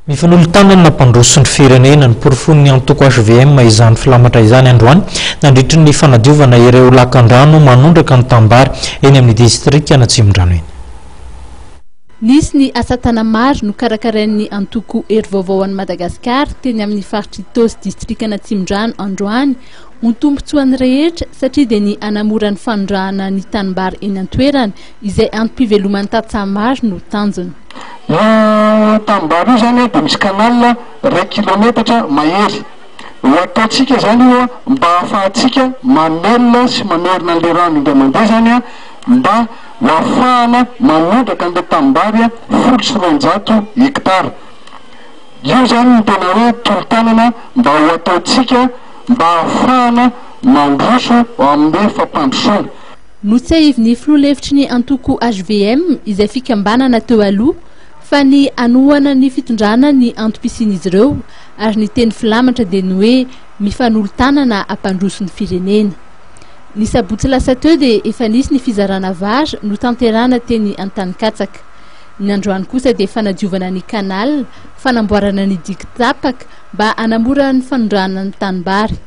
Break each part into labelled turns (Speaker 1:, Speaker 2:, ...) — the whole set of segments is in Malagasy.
Speaker 1: Mifanolo-tanana nampandroso ny firenena, noporofoin'ny antoko hvm izany filamatra izany androany nandritry ny fanadiovana ireo lakandrano manondraka ny tanimbary eny amin'ny distrikan'Atsimondrano eny.
Speaker 2: Nisy ny asa tana maro nokarakarain'ny antoko Hery Vaovao ho an'i Madagasikara teny amin'ny faritr'Itaosy distrikan'Atsimondrano androany, ho tombontsoan'ny rehetra satria dia ny hanamora ny fanondrahana ny tanimbary eny an-toerana izay antom-piveloman'ny tantsaha maro no tanjona. Io
Speaker 3: tanimbary io izany dia misy canal iray kilaometatra mahery. Ho ataontsika izany io mba hahafahantsika mamelona sy mamerina an'ilay rano indray mandeha izany mba ho hahafahana manondraka an'ilay tanimbary folo sy roanjato hekitara. Io izany no tena hoe tolo-tanana mba ho ataontsika mba hahafahana mandroso amin'ny fampandrosoana. Notsahivin'ny
Speaker 2: filoha lefitry ny antoko hvm, izay fikambanana teo aloha, fa ny hanohana ny fitondrana ny antom-pisian'izy ireo, ary ny teny filamatra dia ny hoe mifanolo-tanana hampandroso ny firenena. Ny sabotsy lasa teo dia efa nisy ny fizarana vary notanterahana teny Antanikatsaka. Ny androany kosa dia fanadiovana ny canal, fanamboarana ny diky tapaka mba hanamora ny fanondrahana ny tanimbary.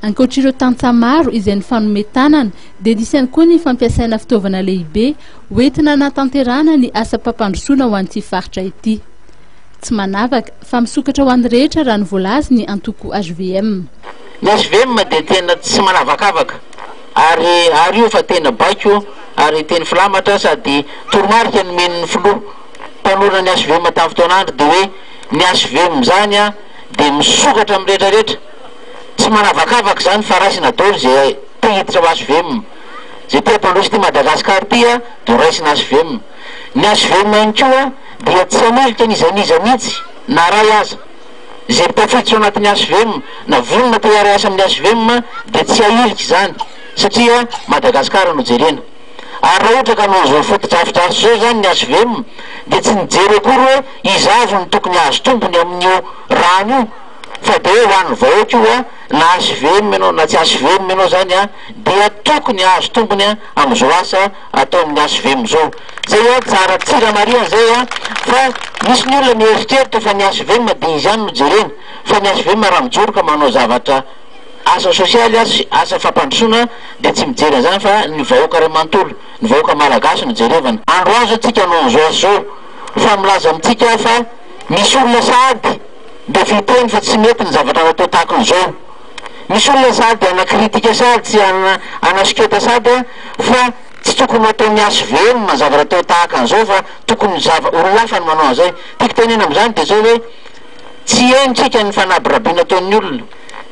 Speaker 2: Ankoatr'ireo tantsaha maro izay nifanome tanana dia nisy ihany koa ny fampiasaina fitaovana lehibe ho entina hanatanterahana ny asam-pampandrosoana ho an'ity faritra ity. Tsy manavaka fa misokatra ho an'ny rehetra raha ny voalaza ny antoko hvm. Ny hvm
Speaker 4: dia tena tsy manavakavaka ary ary io fa tena baiko ary teny filamatra sady toromarika nomen'ny filoha mpanorina ny hvm tamin'ny fotoana andro dia hoe ny hvm izany dia misokatra amin'ny rehetra rehetra. Tsy manavakavaka izany fa raisina dolo izay te hiditra ao HVM. Izay te hampandroso ity Madagascar ity a dia raisina HVM. Ny HVM ihany koa dia tsy hanilika ny izay n'iza mihitsy na iray aza. Izay mba tafiditra ao anatin'ny HVM na vonona te hiara hiasa amin'ny HVM dia tsy hahilika izany satria Madagascar no jerena. Ary raha ohatra ka noho izao fotodrafitrasa izao izany ny HVM dia tsy nijery akory hoe iza avy no tokony hahazo tombony amin'io rano io fa dia ho an'ny vahoaka io na hvm ianao na tsy hvm ianao izany dia tokony hahazo tombony amin'izao asa ataon'ny hvm izao. Izay an, tsara ny tsira marihana izay an, fa misy ny olona mieritreritra fa ny hvm dia izy ihany no jerena, fa ny hvm raha mijoro ka manao zavatra asa sosialy sy asa fampandrosoana dia tsy mijery an'izany fa ny vahoaka iray manontolo, ny vahoaka malagasy no jerevana. Androany izao tsika no amin'izao asa izao fa milaza amintsika fa. Misy olona sahady mba vy teny fa tsy mety ny zavatra natao tahaka an'izao. Misy olona sahady hanakritika sahady tsy hanasoketa sahady fa tsy tokony ho ataon'ny hvm ny zavatra atao tahaka an'izao fa tokony zav olona hafa no manao an'izay. Tiako tenena amin'izany dia izao hoe tsy henontsika ny fanabirabiana ataon'ny olona,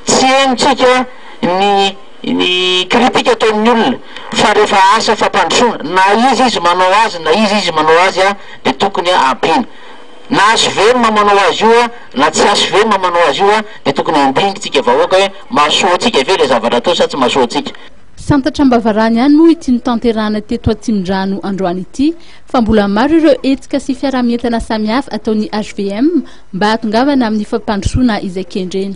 Speaker 4: tsy henontsika ny ny kritika ataon'ny olona fa rehefa asa fampandrosoana na iza izy manao azy na iza izy manao azy dia tokony ampiana. Nahazo velona manao azy io a na tsy azo velona manao azy io a de tokony handingy tsika vahoaka hoe mahasoa antsika ve le zavatra atao sa tsy mahasoa antsika. Santatra am-bavarano
Speaker 2: ihany moa ity notanterahana teto Atsimondrano androany ity fa mbola maro ireo hetsika sy fiaraha-mientana samihafa ataon'ny hvm mba hahatongavana amin'ny fampandrosoana izay kendrena.